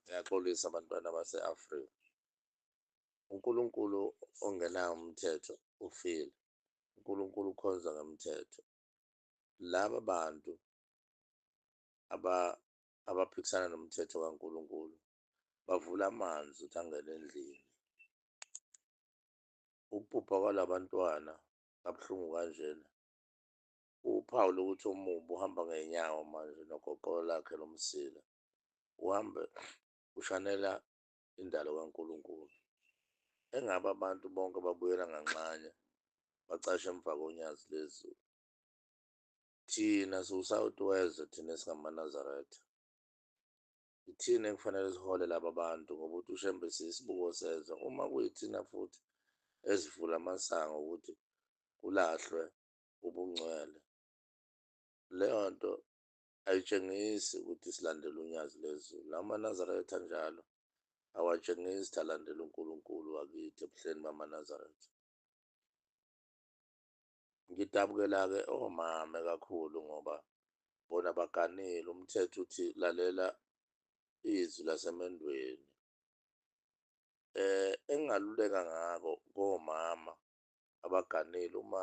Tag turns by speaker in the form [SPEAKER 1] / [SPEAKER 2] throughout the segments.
[SPEAKER 1] Ngiyaxolisa bantwana base-Afrika. UNkulunkulu ongenawo umthetho ufile. UNkulunkulu ukhonza ngemthetho. Laba bantu aba abaphikisana nomthetho kaNkulunkulu bavula amanzi ukuthi angene endlini. Ukubhubha kwalabantwana kabuhlungu kanjena uphawu lokuthi umumbu uhamba ngenyawo manje nogogolo lakhe lomsila uhambe ushanela indalo kaNkulunkulu. Engabe abantu bonke babuyela nganxanye bacashe emva konyazi lezulu? Thina siwusawoti wezwe thina esingamaNazaretha. Yithina ekufanele sihole laba bantu ngoba uthi uShembe siyisibuko sezwe. Uma kuyithina futhi ezivula amasango ukuthi kulahlwe ubungcwele. Leyo nto ayitshengisi ukuthi silandela unyazi lezulu. AmaNazaretha njalo awatshengisi ukuthi alandela uNkulunkulu wakithi ebuhleni bamaNazaretha. Ngidabukela-ke omame kakhulu ngoba bona baganile. Umthetho uthi lalela izwi lasemendweni. Eh engingaluleka ngako komama abaganeli uma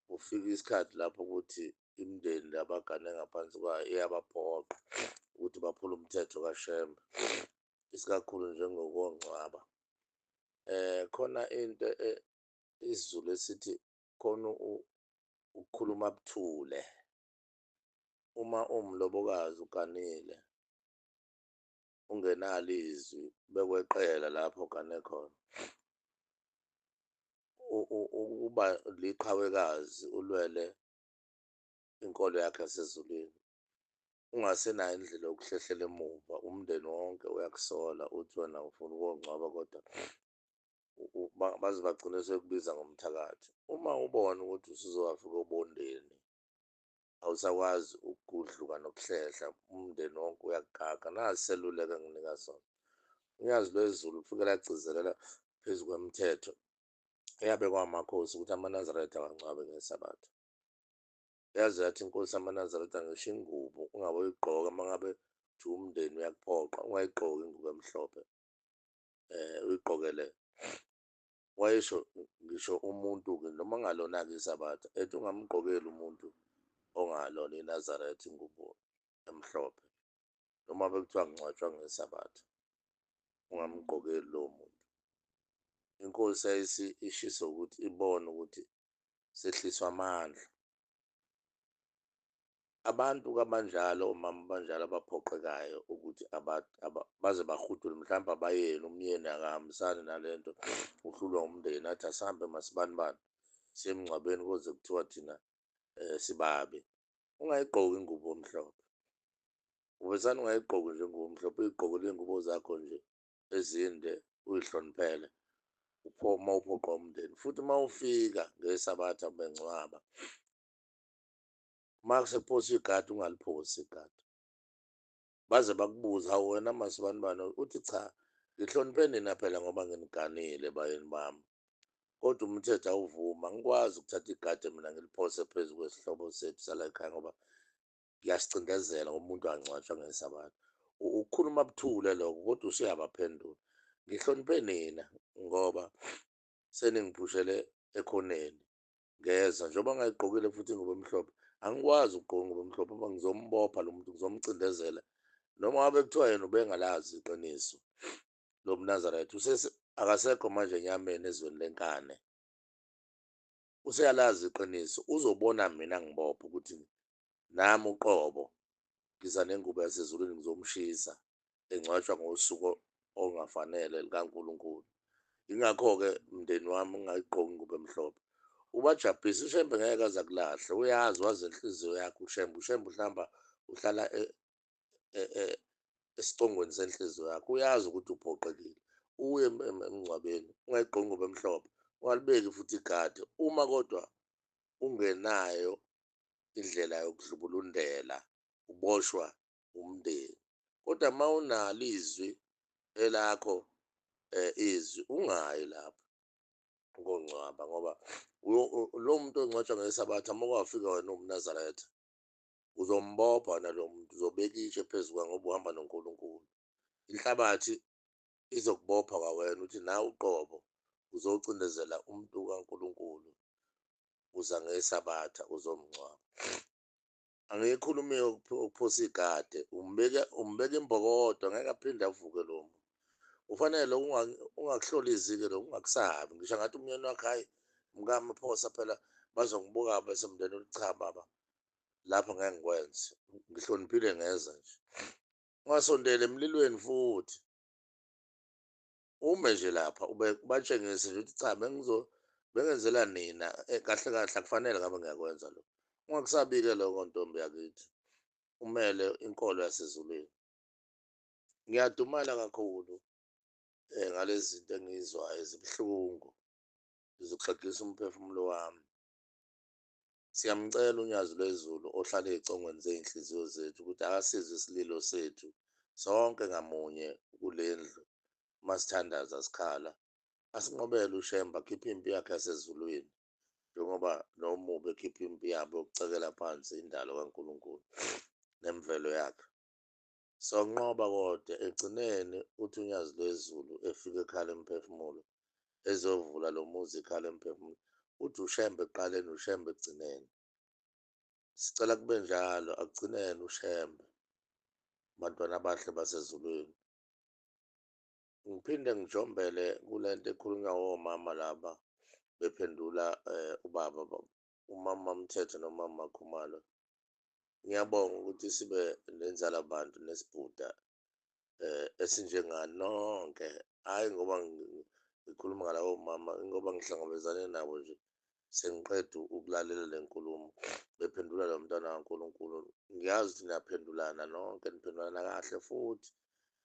[SPEAKER 1] kufika isikhathi lapho ukuthi imindeni le abagane ngaphansi kwayo iyabaphoqa ukuthi baphule umthetho kashembe isikakhulu njengokongcwaba eh khona into e, isizulu esithi khona ukukhuluma buthule uma umlobokazi uganile ungenalo izwi bekweqela lapho gane khona ukuba liqhawekazi ulwele inkolo yakhe yasezulwini ungasenayo indlela yokuhlehlela emuva umndeni wonke uyakusola uthi wena ufuna ukongcwaba kodwa baze bagcine sekubiza ngomthakathi uma ubona ukuthi usuzowafika obondeni awusakwazi ukugudluka nokuhlehla umndeni wonke uyakugaka nasi seluleko enginika sona unyazi lwezulu kufike lagcizelela phezu kwemithetho eyabekwa amakhosi ukuthi amanazaretha awangcwabe ngesabatha yaze yathi inkosi amanazaretha ngisho ingubo ungabe uyigqoka uma ngabe uthi umndeni uyakuphoqa ungayigqoki ingubo emhlophe um uyigqokele wayesho ngisho umuntu-ke noma ngalona-ke isabatha ethi ungamgqokeli umuntu ongalona inazaretha ingubo emhlophe noma bekuthiwa ngcwatshwa ngesabatha ungamgqokeli lowo muntu inkosi yayisi ishisa ukuthi ibone ukuthi sehliswa amandla abantu kabanjalo omama abanjalo abaphoqekayo ukuthi baze bahudule mhlawumbe abayeni umyeni akahambisani nale nto uhlulwa umndeni athi asihambe masibanibani semngcwabeni koze kuthiwa thina um sibabi ungayigqoki ingubo omhlophe uvesane ungayigqoki nje ingubo omhlophe uyigqokele iy'ngubo zakho nje ezinde uyihloniphele uma uphoqa umndeni futhi uma ufika ngesabatha bengcwaba uma kusephoswa igadi ungaliphosi igadi baze bakubuze hawu wena masibani bani uthi cha ngihloniphe nina phela ngoba nginiganile bayeni bami kodwa umthetho awuvuma ngikwazi ukuthatha igade mina ngiliphose phezu kwesihlobo sethu sala ekhaya ngoba ngiyasicindezela ngoba umuntu angcwatshwa ngesabatha ukukhuluma buthule lokho kodwa usuyabaphendula ngihloniphe nina ngoba seningiphushele ekhoneni ngeza njengoba ngayigqokile futhi ingubo emhlophe angikwazi ukugqoka ingubo emhlophe uma ngizombopha lo muntu ngizomcindezela noma wabe kuthiwa yena ubengalazi iqiniso lo mnazareth akasekho manje enyameni ezweni lenkane useyalazi iqiniso uzobona mina ngibopha ukuthi Nami uqobo ngiza nengubo yasezulwini ngizomshisa, engcwatshwa ngosuku olungafanele lukaNkulunkulu. Yingakho-ke mndeni wami ungayigqoki ingubo emhlophe. Ubajabhise, uShembe ngeke aze akulahle. Uyazi, wazi inhliziyo yakho uShembe. UShembe uhlamba, uhlala e, e, e, esicongweni senhliziyo yakho. Uyazi ukuthi uphoqekile. Uye emngcwabeni, ungayigqoki ingubo emhlophe. Ungalibeki futhi igade. Uma kodwa ungenayo indlela yokudlubulundela uboshwa umndeni kodwa uma unalo izwi elakho um izwi ungayi lapho kongcwaba ngoba lo muntu ongcwatshwa ngesabatha uma kwafika wena uwumnazaretha uzombopha wena lo muntu uzobeka itshe phezu kwa ngoba uhamba nonkulunkulu inhlabathi izokubopha kwawena ukuthi nawe uqobo uzocindezela umuntu kankulunkulu uza ngesabatha uzomngcwaba angiyikhulumi ukuphosa igade umbeke umbeke imbokodo ngeke aphinde avuke lo muntu ufanele ungakuhlolizike lo ungakusabi ngisho ngathi umyeni wakhe hayi mkami phosa phela bazongibuka bese mndeni ulicha baba lapho ngeke ngikwenze ngihloniphile ngeza nje ungasondeli emlilweni futhi ume nje lapha ube ubatshengise nje ukuthi cha bengizo bengenzela nina eh, kahle kahle akufanele ngabe ngiyakwenza lo ungakusabike lokho ntombi yakithi umele inkolo yasezulwini ngiyadumala kakhulu um ngalezi zinto engiyizwayo zibuhlungu zizoxegisa umphefumulo wami Siyamcela uNyazi Lwezulu ohlala ezicongweni zezinhliziyo zethu ukuthi akasize isililo sethu sonke ngamunye kulendlu masithandaza sikhala asinqobele uShembe akhiphe impi yakhe yasezulwini njengoba nomubi ekhipha impi yabo yokucekela phansi indalo kaNkulunkulu nemvelo yakhe. Sonqoba kodwa ekugcineni uthi uNyazi Lwezulu efika ekhala imiphefumulo ezovula lo muzi ikhala imiphefumulo uthi uShembe ekuqaleni uShembe ekugcineni. Sicela kube njalo akugcineni uShembe bantwana abahle basezulwini. Ngiphinde ngijombele kule nto ekhulunywa womama laba bephendula eh, ubaba umama Mthetho nomama Khumalo. Ngiyabonga ukuthi sibe nenzala bantu nesibhuda eh esinjengani nonke. Hayi ngoba ngikhuluma ngalawo mama ngoba ngihlangabezane nabo nje sengiqeda ukulalela le nkulumo bephendula lo mntwana kaNkulunkulu ngiyazi ukuthi niyaphendulana nonke niphendulana kahle futhi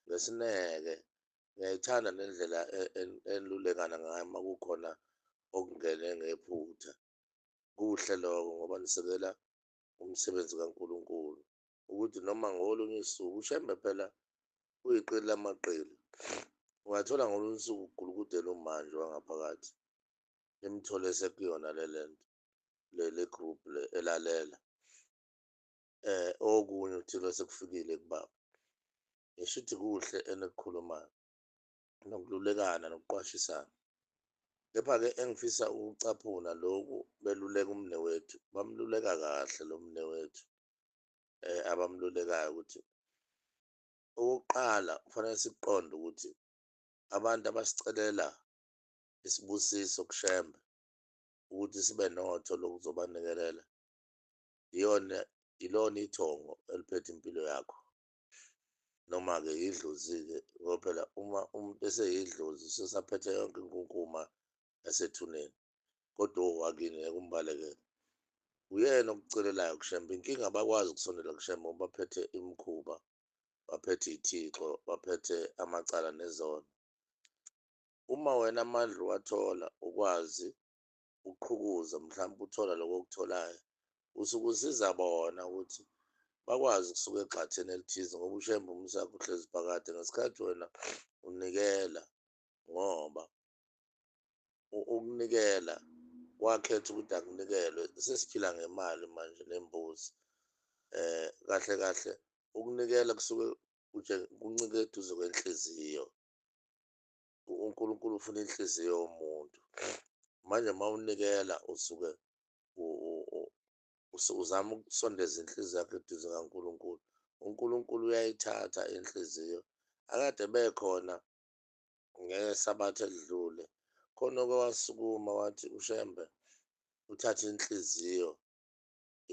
[SPEAKER 1] ngesineke ngiyayithanda nendlela e-, e-, enilulekana ngayo uma kukhona okungene ngephutha kuhle lokho ngoba nisekela umsebenzi kaNkulunkulu ukuthi noma ngolunye usuku ushembe phela uyiqili lamaqili ungathola ngolunye usuku ugulukudela umanje wangaphakathi nimthole sekuyona le lento leli group le elalela eh okunye uthilo sekufikile kubaba ngishuthi kuhle enikukhulumayo nokululekana nokuqwashisana kepha-ke engifisa ukucaphuna loku beluleka umne wethu bamluleka kahle lo mne wethu um abamlulekayo ukuthi okokuqala kufanele sikuqonde ukuthi abantu abasicelela isibusiso kushembe ukuthi sibe notho lokuzobanikelela iyona ilona ithongo eliphethe impilo yakho noma-ke yidlozi-ke ngoba phela uma umuntu eseyidlozi sesaphethe yonke inkunkuma yasethuneni kodwa owakini ngeke umbalekele uyena okucelelayo kushembe inkinga abakwazi ukusondela kushembe ngoba baphethe imikhuba baphethe iy'thixo baphethe amacala nezono uma wena amandla uwathola ukwazi uqhukuza mhlawumbe uthola lokho okutholayo usuke usiza bona ukuthi bakwazi ukusuka egxatheni elithize ngoba ushembe umusa wakhe uhlezi phakade ngesikhathi wena unikela ngoba ukunikela wakhetha ukuthi akunikelwe sesiphila ngemali manje nembuzi eh kahle kahle ukunikela kusuke kuncike eduze kwenhliziyo uNkulunkulu ufuna inhliziyo yomuntu manje uma unikela usuke uzama ukusondeza inhliziyo yakho eduze kaNkulunkulu uNkulunkulu uyayithatha inhliziyo akade bekhona ngesabatha elidlule khona oke wasukuma wathi uShembe uthathe inhliziyo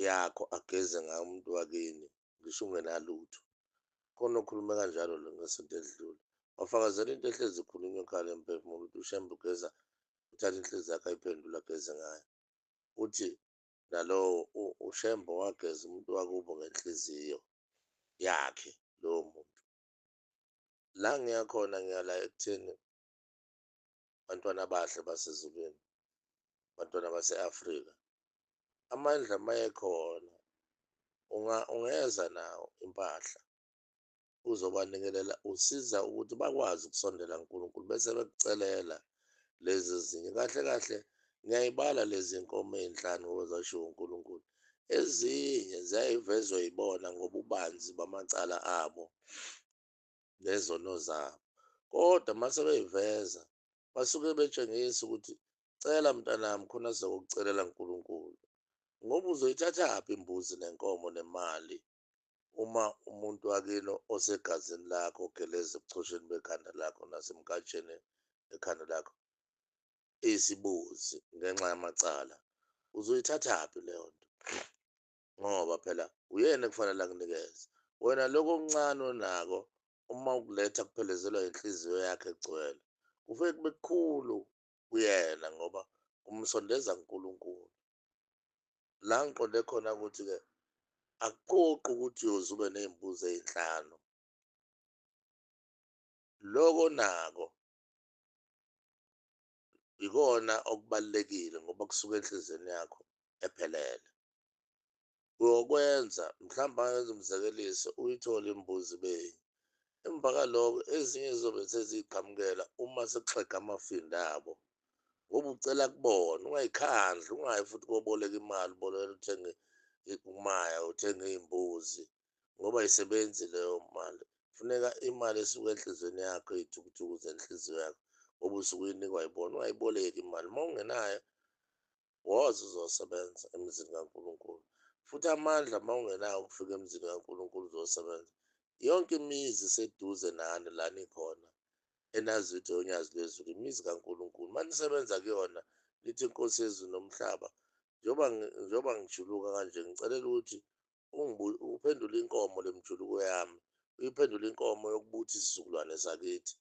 [SPEAKER 1] yakho ageze ngayo umuntu wakini ngisho ungenalutho khona okhulume kanjalo lo ngesonto edlule wafakazela into ehlezi ikhulunywa ekhaya emphefumulo ukuthi ushembe ugeza uthatha inhliziyo yakhe ayiphendula ageze ngayo uthi nalowo ushembe wageza umuntu wakubo ngenhliziyo yakhe lowo muntu la ngiyakhona ngiyala ekutheni bantwana abahle basezulwini bantwana base-afrika amandla mayekhona unga ungeza nawo impahla uzobanikelela usiza ukuthi bakwazi ukusondela nkulunkulu bese bekucelela lezi zinye kahle kahle ngiyayibala lezi nkomo ey'nhlanu ngozashiwo unkulunkulu ezinye ziyayivezwa yibona ngobubanzi bamacala abo ngezono zabo kodwa uma sebeyiveza basuke betshengisa ukuthi cela mntanami khona sizokucelela nkulunkulu ngoba uzoyithathaphi imbuzi nenkomo nemali uma umuntu wakini osegazini lakho ogeleza ebuchosheni bekhanda lakho nasemkatsheni ekhanda lakho isibuzi ngenxa yamacala uzoyithathaphi leyo nto ngoba phela uyena ekufanele akunikeze wena lokho okuncane onako uma ukuletha kuphelezelwa inhliziyo yakhe egcwele kufike kube kukhulu kuyena ngoba kumsondeza kuNkulunkulu la ngiqonde khona ukuthi-ke akuphoqi ukuthi uyoze ube ney'mbuzi ey'nhlanu loko nako yikona okubalulekile ngoba kusuka enhliziyweni yakho ephelele. Uyokwenza, mhlawumbe angenza umzekeliso, uyithole imbuzi benye. Emva kaloko ezinye zizobe seziyiqhamukela uma sekuxega amafinda abo. Ngoba ucela kubona, ungayikhandli, ungayi futhi koboleka imali, ubolekela uthenge umaya, uthenge iy'mbuzi. ngoba ayisebenzi leyo mali funeka imali esuke enhliziyweni yakho iy'thukuthuk'u zenhliziyo yakho ngoba usuke uyinikwa yibona ungayiboleki imali uma ungenayo woza uzosebenza emzini kaNkulunkulu futhi amandla uma ungenawo ukufika emzini kaNkulunkulu uzosebenza yonke imizi iseduze nani la nikhona enazi ukuthi yonyazi lwezulu imizi kaNkulunkulu uma nisebenza kuyona nithi inkosi yezulu nomhlaba njengoba ngijuluka kanje ngicelela ukuthi uphendula inkomo le mjuluko yami uyiphendula inkomo yokubuthi isizukulwane sakithi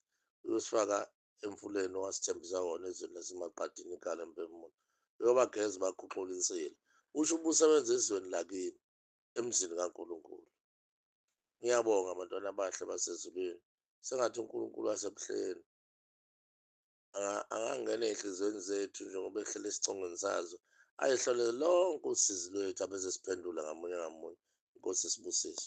[SPEAKER 1] uyosifaka emfuleni owasithembisa wona ezweni lasemaqadini ikhala empemula uyobageza bakhuxula insila usho ubusebenza ezweni lakini emzini kaNkulunkulu ngiyabonga bantwana abahle basezulwini sengathi uNkulunkulu wasebuhleni angangena ezinhliziyweni zethu njengoba ehlele esicongweni sazo ayehlole lonke usizi lwethu abeze siphendula ngamunye ngamunye inkosi sibusise